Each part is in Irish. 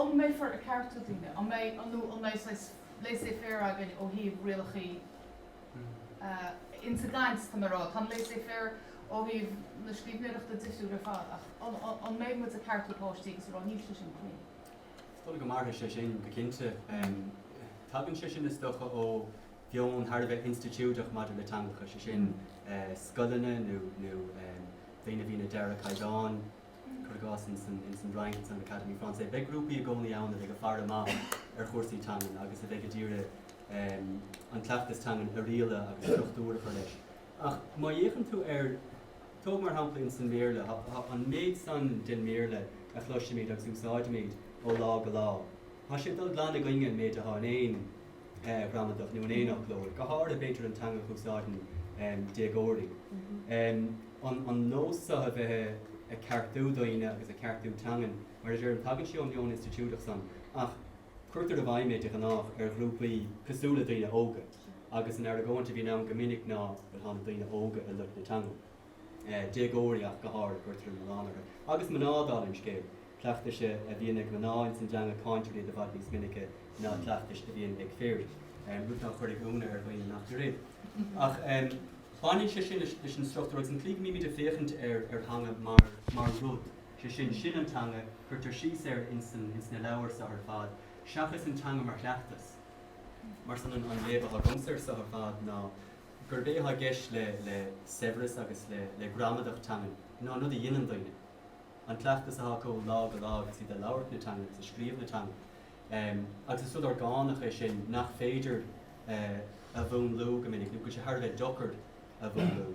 An mbeifear ag ceartú daoine? An mbeidh an nó an mbeidh saghas laissez faire againn ó thaobh rialachaí ins an gcaint, tá mé a' rá. Tá an laissez faire ó thaobh na scríbhneoireachta difriúil ar fad ach an mbeidh muid ag ceartú páistí agus a' rá níl sé sin cruinn? Is dóigh go mairfidh sé sin go cinnte. Tagann sé sin is dócha ó mheon thar a bheith institiúideach maidir le teangacha, sé sin scoileanna nó daoine a bhíonn ag dearadh caighdeán, Cuir i gcás, ins an bhFrainc, ins an Académie Française, beidh grúpaí i gcónaí ann a bheidh ag faire amach ar chúrsaí teangan agus a bheidh ag iarraidh an cleachtas teangan a rialadh agus struchtúr a chur leis. Ach má fhéachann tú ar, tóg mar shampla ins an mBéarla, an méid san den mBéarla a chloisimid agus a úsáidimid ó lá go lá, Tá sé ag dul glan i gcoinne an méid atá in aon ghramadach nó in aon fhoclóir, go háirithe b'fhéidir an teanga a úsáideann déagóirí, an nós seo a bheith ag ceartú daoine agus ag ceartú teangan, mar a deirim, tagann sé ón meon institiúideach san ach cuirtear i bhfeidhm é de ghnáth ar ghrúpaí cosúil le daoine óga agus an argóint a bhíonn ann go minic ná, bhuel, tá na daoine óga ag loit na teangan. déagóirí ach go háirid, cuirtear an milleán orthu. Agus mná, dála an scéil, cleachtais a bhíonn ag mná ins an dteanga cáintear iad i bhfad níos minice ná cleachtais a bhíonn ag fir, rud ná cuirfeadh ionadh ar dhaoine nach fir iad. Ach baineann sé sin leis an struchtúr agus an tslí go mbímid ag féachaint ar theanga mar rud, sé sin, sin an teanga, cuirtear síos air ins na leabhair seo ar fad, seachas an teanga mar chleachtas, mar sin an léamh atá agamsa ar seo ar fad ná gurb é atá i gceist le saibhreas agus le gramadach teangan ná an rud a dhéanann daoine, an cleachtas atá acu ó lá go lá agus iad ag labhairt na teangan agus ag scríobh na teangan. Agus is rud orgánach é sin nach féidir a mhúnlú go minic, nó go bhfuil sé thar a bheith deocair a mhúnlú.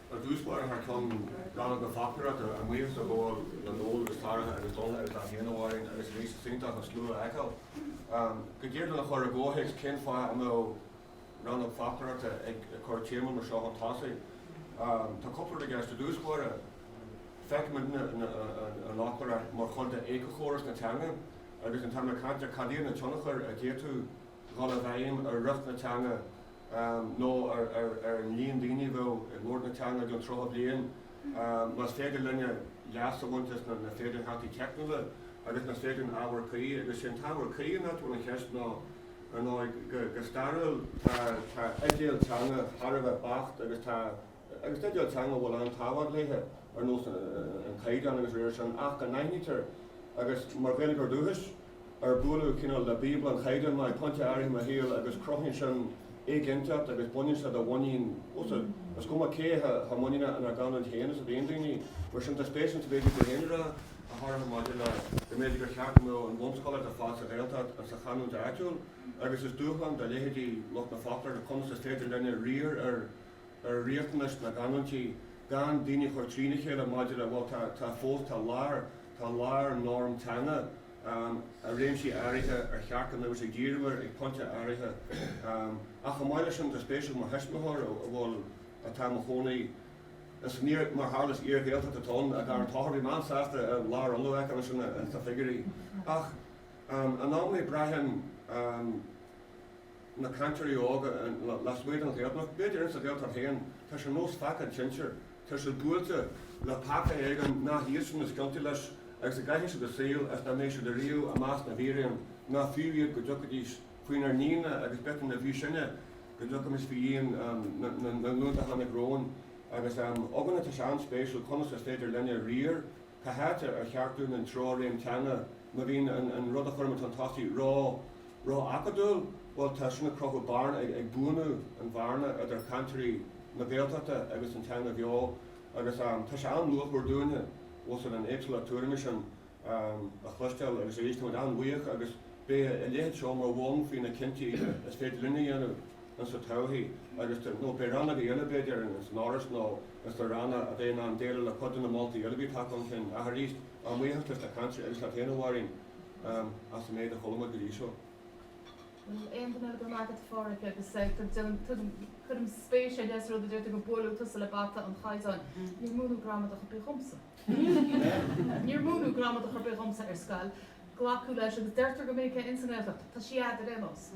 Ar dtús báire thar cionn rannóg na foclóireachta ba mhaith liom buíochas a ghabháil le Noel agus Tadhg agus Sorcha agus libh féin a mhairíonn agus a mbíonn tá sé iontach an slua a fheiceáil. Go deimhin lena chur i gcomhthéacs cén fáth a mbeadh rannóg foclóireachta ag cur téama mar seo chun tosaigh? Tá cúpla rud i gceist. Ar dtús báire, feicimid an fhoclóireacht mar chuid d'éiceachóras na teanga agus an t-am le caint ar cad iad na tionchair a d'fhéadfadh dhul i bhfeidhm ar riocht na teanga nó ar an líon daoine a bheadh i mbun na teanga don tríocha bliain, más féidir linne leas a bhaint as na féidearthachtaí teicniúla agus na féadann ábhar cuí, agus is é an t-ábhar cuí an áit a bhfuil an cheist ná, ar ndóigh, go stairiúil, tá idéal teanga thar a bheith beacht agus tá agus idéal teanga a bhfuil an-tábhacht léithe, ar nós an Chaighdeáin agus dá réir sin, ach go n-aithnítear, agus mar Ghaeilgeoir dúchais, ar buaileadh cineál le Bíobla an Chaighdeáin mé ag pointe áirithe i mo shaol agus cruthaíonn sin éiginnteacht agus baineann sé de mhuinín ós rud, is cuma cé chomh muiníneach inár gcanúint féin is a bhíonn daoine. Mar sin, tá spéis insa méid a bhí tú féin a rá, go háirithe maidir le go mb'fhéidir gur cheart go mbeadh an bhunscolaíocht ar fad sa Ghaeltacht sa chanúint áitiúil agus is dúshlán do leithéidí lucht na foclóireachta conas is féidir linne riar ar ar riachtanais na gcanúintí gan daoine a chur trína chéile maidir le, bhuel, tá fós, tá lár, tá lár norm teanga i réimsí áirithe ar cheart go mbeidís ag díriú air ag pointe áirithe. Ach chomh maith leis sin, tá spéis agam mar thuismitheoir, a bhfuil, atá i mo chónaí, is mar a tharlaíos, iar-Ghaeltacht atá ann, dar an t-áthar, bhí mé an-sásta a lár a fhionnadh aice ansin sna figiúirí. Ach in amannaí braithim. na cainteoirí óga lasmuigh den Ghaeltacht, b'fhéidir insa Ghaeltacht féin, tá sé ar nós pheaca an tsinsir, tá siad buailte le peaca éigin nach iadsan is ciontaí leis agus go gcaithfidh siad a saol is ná beidh siad ariamh i measc na bhfíréan ná fiú iad go dtiocfaidís faoinár ndíon-na agus b'fhéidir ná fiú sinne go dtiocfaimis faoi dhíon na nglúnta a tháinig romhainn agus eoghan, tá sé an-spéisiúil conas is féidir linne riar. Cá háit ar cheart dúinn an treoir réim teanga má bhíonn an rud a chuirimid chun tosaigh ró, ró-acadúil? Bhuel, tá sin ag cruthú bearna, ag buanú an bhearna idir cainteoirí na Gaeltachta agus an teanga bheo agus tá sé an-luachmhar dúinne ós ag an éagsúlacht tuairime sin a chloisteáil agus arís táimid an-bhuíoch agus beidh a leithéid seo mar bhonn faoi na cinntí is féidir linne a dhéanamh insa todhchaí agus, nó beidh rannógaí eile b'fhéidir ins an Fhoras nó. Is le ranna a bheidh in ann déileáil le cuid de na moltaí eile a bhí tagtha chun cinn ach arís, ár mbuíochas leis na cainteoirí agus leat féin, a Mháirín, as an méid a chuala muid go dtí seo. Níl aon duine eile. Go raibh maith agat, a Phádraig, agus cuirim spéis ar leith sa rud a deir tú, gur buaileadh tusa le bata an chaighdeáin. Níor múineadh gramadach ar bith dhomsa. Níor múineadh gramadach ar bith dhomsa ar scoil. Glacadh leis, agus deirtear go minic é insa nGaeltacht, tá sí a'd ar aon nós.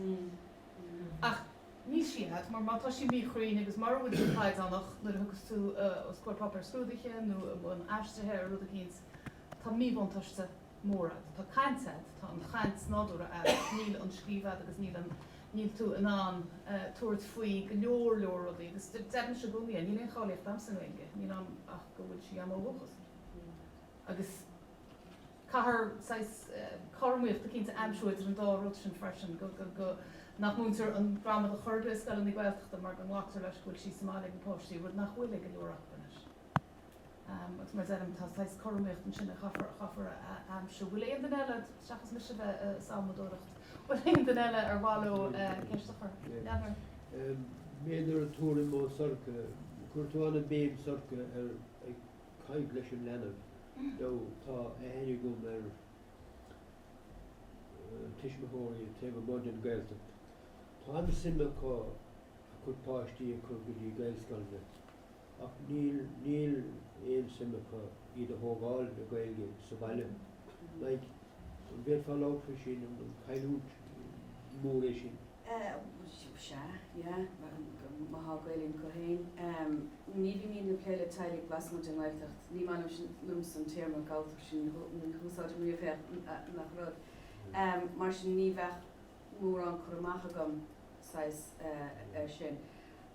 Ach. Níl sí a'd, mar má tá sí míchruinn agus mura bhfuil sí caighdeánach nuair a thugas tú os comhair páipéar scrúdaithe nó i mbun aistrithe ar rud eicínt, tá míbhuntáiste mór agat. Tá caint agat, tá an chaint nádúrtha agat ach níl an scríobh agat agus níl an, níl tú in ann tabhairt faoi go leor leor rudaí agus deirimse i gcónaí é, níl aon cháilíocht a'msa i nGaeilge, níl ann ach go bhfuil sí a'm ó dhúchas. Agus. Caithfear saghas cothromaíochta cinnte a aimsiú idir an dá rud sin freisin, go nach múintear an gramadach chor ar bith i scoileanna Gaeltachta mar go nglactar leis go bhfuil sí sa mbaile ag na páistí, rud nach bhfuil ag go leor acu anois. Agus mar a deirim, tá saghas cothromaíocht ansin a chaithfear a aimsiú. Bhfuil aon duine eile, seachas mise bheith ag salmadóireacht, bhfuil aon duine eile ar mhaith leo ceist a chur? B'fhéidir tuairim ó Shorcha. Chuir tú an-bhéim, Sorcha, ar caint leis an leanbh, nó tá aithne agam ar tuismitheoirí taobh amuigh den Ghaeltacht. Tá an-suim acu a gcuid páistí a chur go dtí Gaelscoileanna, ach níl aon suim acu iad a thógáil le Gaeilge sa bhaile. Like, an bhféadfá labhairt faoi sin, an cailliúint mór é sin? Sea, yeah, má thá Gaelainn acu féin. Ní bhímidne ag plé le teaghlaigh lasmuigh den nGaeltacht. Ní maith liomsa an téarma Galltacht sin, ní úsáidim riamh é ach nach rud. Mar sin ní bheadh mórán cur amach agam, saghas, air sin.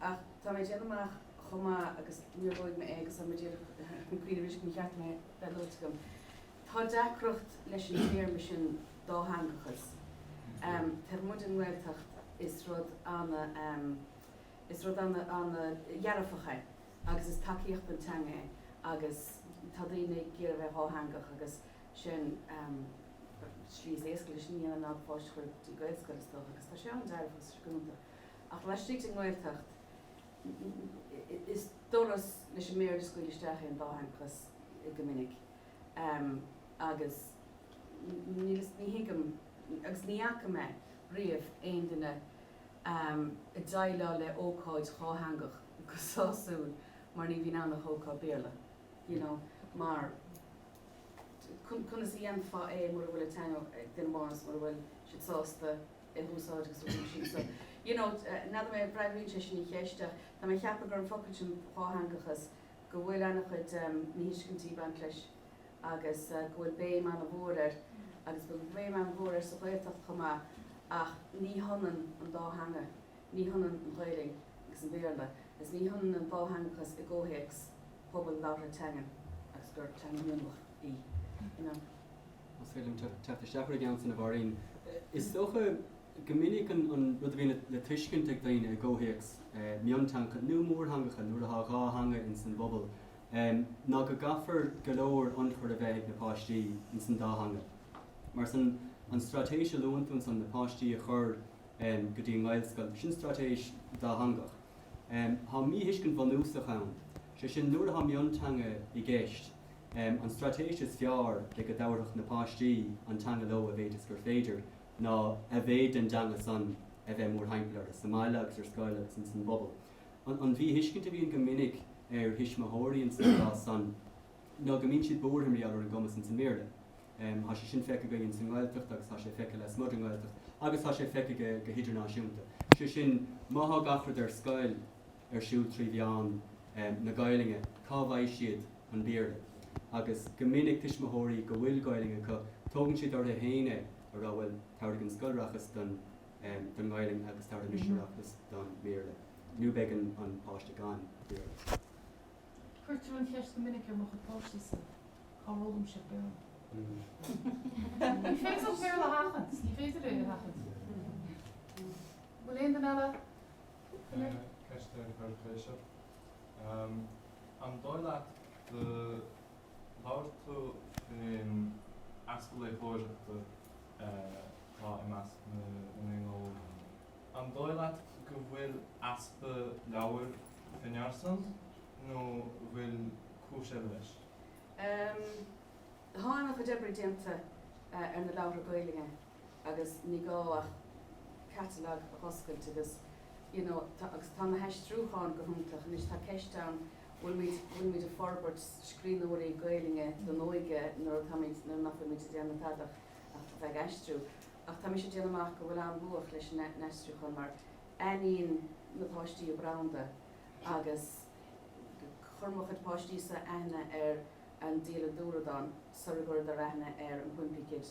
Ach tá mé ag déanamh amach chomh maith agus níor luaigh mé é agus tá mé ag iarraidh cuimhneamh arís go mba cheart dom é bheith luaite agam. Tá deacracht leis an téarma sin dátheangachas. Taobh amuigh den nGaeltacht is rud ana is rud ana ana dhearfach é agus is tacaíocht don teanga é agus tá daoine ag iarraidh bheith dhátheangach agus sin slí is éasca lena dhéanamh ná do pháiste chur dtí Gaelscoil is dócha agus tá sé ana dearfach is fíorchiúnta ach laistigh den nGaeltacht is doras leis an mBéarla scaoileadh isteach é an dátheangachas go minic. agus níl fhios, ní thuigim, agus ní fhaca mé riamh aon duine ag déileáil le ócáid dhátheangach go sásúil mar ní bhíonn ann ach ócáid Béarla, you know, mar conas a dhéanfá é mura bhfuil an teanga ag duine amháin is mura bhfuil siad sásta é a úsáid agus mura bhfuil siad sa, you know, n'fheadar mé, an bhfreagraíonn sé sin an cheist ach tá mé ag ceapadh gur an focal sin dhátheangachas go bhfuil an-chuid míthuiscintí ag baint leis agus go bhfuil béim an-mhór air agus go bhfuil béim an-mhór air sa Ghaeltacht chomh maith ach ní hionann an dá theanga, ní hionann an Ghaelainn agus an Béarla agus ní hionann an dátheangachas i gcomhthéacs pobal labhartha teangan agus gur teanga mionlach í. más féidir liom teacht isteach ar an gceann san, a Mháirín. Is dócha go minic an rud a bhíonn le tuiscint ag daoine i gcomhthéacs mionteangacha, nó mórtheangacha nuair atá dhá theanga ins an bpobal, ná go gcaithfear go leor ionchuir a bheith ag na páistí ins an dá theanga. Mar sin, an straitéis a luann tú ansan, na páistí a chur go dtí an nGaelscoil, sin straitéis dátheangach. Tá míthuiscint bhunúsach ann, sé sin, nuair atá mionteanga i gceist, An straitéis is fearr le go dtabharfadh na páistí an teanga leo a mhéid is gur féidir, ná a mhéid den dteanga san a bheith mór-thimpeall orthu, sa mbaile agus ar scoil agus ins an bpobal. An mhíthuiscint a bhíonn go minic ar thuismitheoirí ins an gcás san ná go mbíonn siad buartha mar gheall ar an gcumas ins an mBéarla. Thá sé sin feicthe againn ins an nGaeltacht agus thá sé feicthe lasmuigh den nGaeltacht agus thá sé feicthe go hidirnáisiúnta. Sé sin, má thá gach rud ar scoil, ar siúl trí mheán na Gaelainne, cá bhfaighidh siad an Béarla? Agus go minic tuismitheoirí go bhfuil Gaelainn acu, tógann siad orthu féin é, a rá, bhuel, tabharfaidh an scoil aireachas don nGaelainn agus tabharfaidh mise aireachas don mBéarla, nó beidh an páiste gan Bhéarla. Cuirtear an cheist go minic ar mo chuid páistí-sa, cár fhoghlaim siad Béarla? Ní féidir an Béarla a sheachaint, ní féidir é a sheachaint. Bhfuil aon duine eile? Ceist ar chur chuige seo. An dóigh leat gur labhair tú faoin easpa léitheoireachta atá i measc na ndaoine óga. An dóigh leat go bhfuil easpa leabhar in earraíocht nó bhfuil cúis eile leis? Tá an-chuid oibre déanta ar na leabhartha Gaeilge agus ní gá ach catalog a oscailt agus you know tá agus tá na haistriúcháin go hiontach. Anois tá ceist ann bhfuil muid bhfuil muid ag forbairt scríbhneoirí Gaelainne don óige nuair atá muid nuair nach bhfuil muid ag déanamh faic ach ach bheith ag aistriú. Ach tá mise ag déanamh amach go bhfuil an-luach leis an n-aistriúchán mar aithníonn na páistí an branda agus chuir mo chuid páistí-sa aithne ar an Dialann Dúradáin sular chuireadar aithne ar an Wimpy Kid.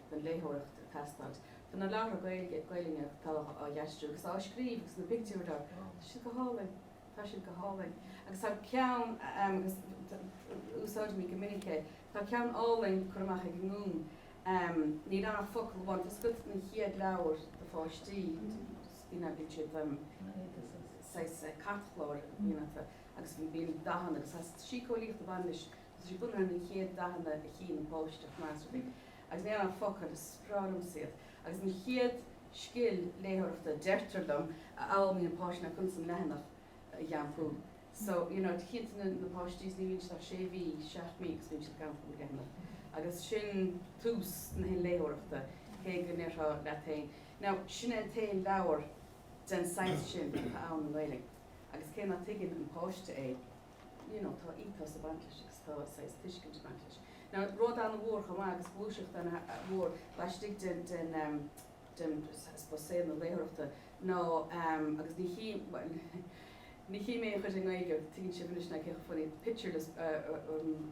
don léitheoireacht ag teastáilt. Tá na leabhartha Gaeilge, Gaelainne atá á dh'aistriú agus á scríobh agus na pictiúir dá Tá siad go hálainn. Tá siad go hálainn. Agus tá ceann agus úsáidimid go minic é. Tá ceann álainn curtha amach ag an nGúm. Níl ann ach focal amháin. Tá's agat na chéad leabhar do pháistí. Bíonn a bíonn siad saghas cairtchláir a bhíonn acu agus bíonn dathanna agus tá síceolaíocht a bhaineann leis Is iad bunús na chéad dathanna a chíonn an páiste measarthaí agus ní haon focail a spreaganns iad, agus an chéad scil léitheoireachta a deirtear liom a fhoghlaimíonn páiste ná conas an leathanach a iompú. So, you know, cinnte na páistí is ní bhíonn siad ach sé mhí, seacht mí agus bíonn siad ag casadh leathanach agus sin tús na léitheoireachta, cé go ndeirfeá leat féin, now, sin é an t-aon leabhar den saghas sin atá ann i nGaeilge agus cé ná tuigeann an páiste é, you know tá ethos ag baint leis agus tá saghas tuiscint ag baint leis. Now rud an-mhór chomh maith agus gluaiseacht an-mhór laistigh den den um, den suppose saol na léitheoireachta ná um, agus ní chí well, ní chím a chuid i nGaeilge tuigeann sibh ar ais na cathain fanna pictureless uh, uh, um,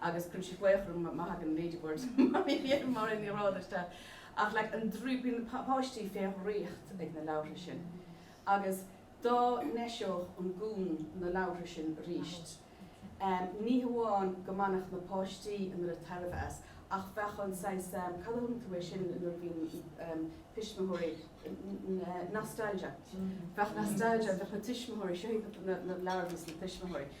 agus cuimse faochrainn mahagaine Ladybird mar ní raibh isteach ach like an draoi bíonn na páistí fé dhraíocht ag na leabhartha sin agus dá n-eiseodh an Gúm na leabhartha sin arís ní hamháin go mbainfeadh na páistí an oiread tairbhe as ach bheadh an saghas cad a thugann tú air sin nuair a bhíonn tuismitheoirí nostalgia bheadh nostalgia bheadh na tuismitheoirí seo iad na leabhartha is na tuismitheoirí.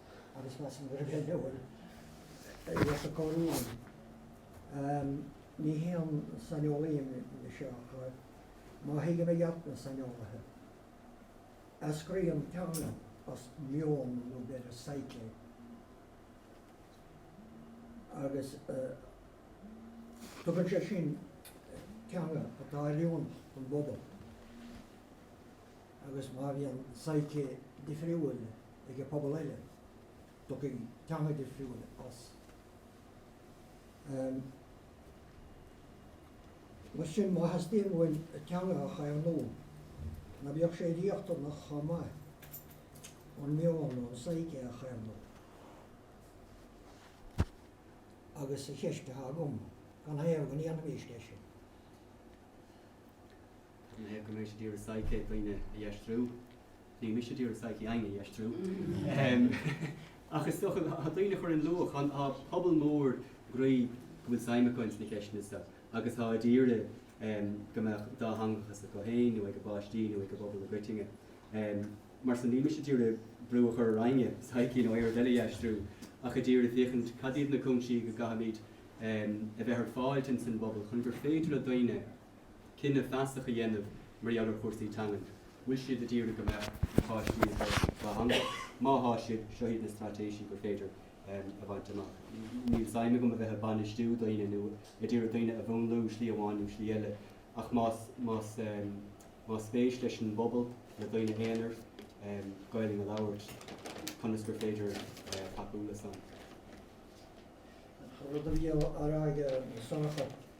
agus más an bhfir bheag a bhfuil a fhios acu an líon. Ní haon saineolaí mise seo ach má thuigim i gceart na saineolaithe, eascraíonn teanga as meon nó abair psyche agus tugann sé sin teanga atá in oiriúint don bpobal. agus má bhíonn an psyche difriúil ag an pobal eile, tiocfaidh teanga difriúil as. Mar sin, má theastaíonn uainn teanga a chaomhnú, ná beadh sé riachtanach chomh maith an meon nó an psyche a chaomhnú? Agus an cheist atá agam, an é go ndéanfaimis é sin? Ní hé go mbeidh siad a d'iarraidh psyche dhaoine a dh'aistriú, níl mise d'iarraidh psyche éinne a dh'aistriú, ach is dócha tá daoine a chuireann luach, tá pobal mór groí go bhfuil suim acu ins na ceisteanna so agus atá a d'iarraidh go mbeadh dátheangachas acu féin nó ag a bpáistí nó ag an bpobal i gcoitinne. Mar san níl mise d'iarraidh brú a chur ar éinne psyche nó aon rud eile a dh'aistriú ach a d'iarraidh féachaint cad iad na cúinsí go gcaithfimid a bheith ar fáilt ins an bpobal chun gur féidir le daoine cinneadh feasach a dhéanamh mar gheall ar chúrsaí teangan. Bhfuil siad a d'iarraidh go mbeadh na páistí ag labhairt dá theanga? Má thá siad, seo iad na straitéisí gur féidir a bhaint amach. Níl sé d'aidhm agam a bheith ag bainistiú daoine nó a d'iarraidh daoine a mhúnlú slí amháin nó slí eile ach más más más spéis leis an bpobal, le daoine aonair, Gaolainn a labhairt, conas gur féidir tacú le san? An rud a bhí á rá ag Sorcha.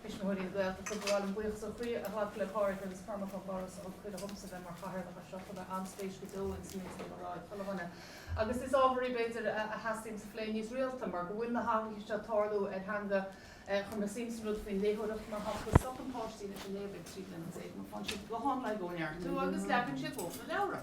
Tuismitheoirí na Gaeltachta, Ba mhaith liom buíochas ó chroí a ghlacadh le Pádraig agus Cormac ón bhForas a thug cuireadh dhomsa bheith mar chathaoirleach ar seo. Chuir mé an-spéis go deo ins an méid a bhí le rá ag chuile dhuine agus is ábhar í, b'fhéidir, a theastaíonns a phlé níos rialta mar go bhfuil na hathruithe seo ag tarlú ar theanga Chuir mé suim san rud faoin léitheoireacht mar shampla, stopann páistí leis an léamh ag trí bliana déag nó fanann siad go hiomlán ag ó neartú agus léann siad lóchrann leabhra.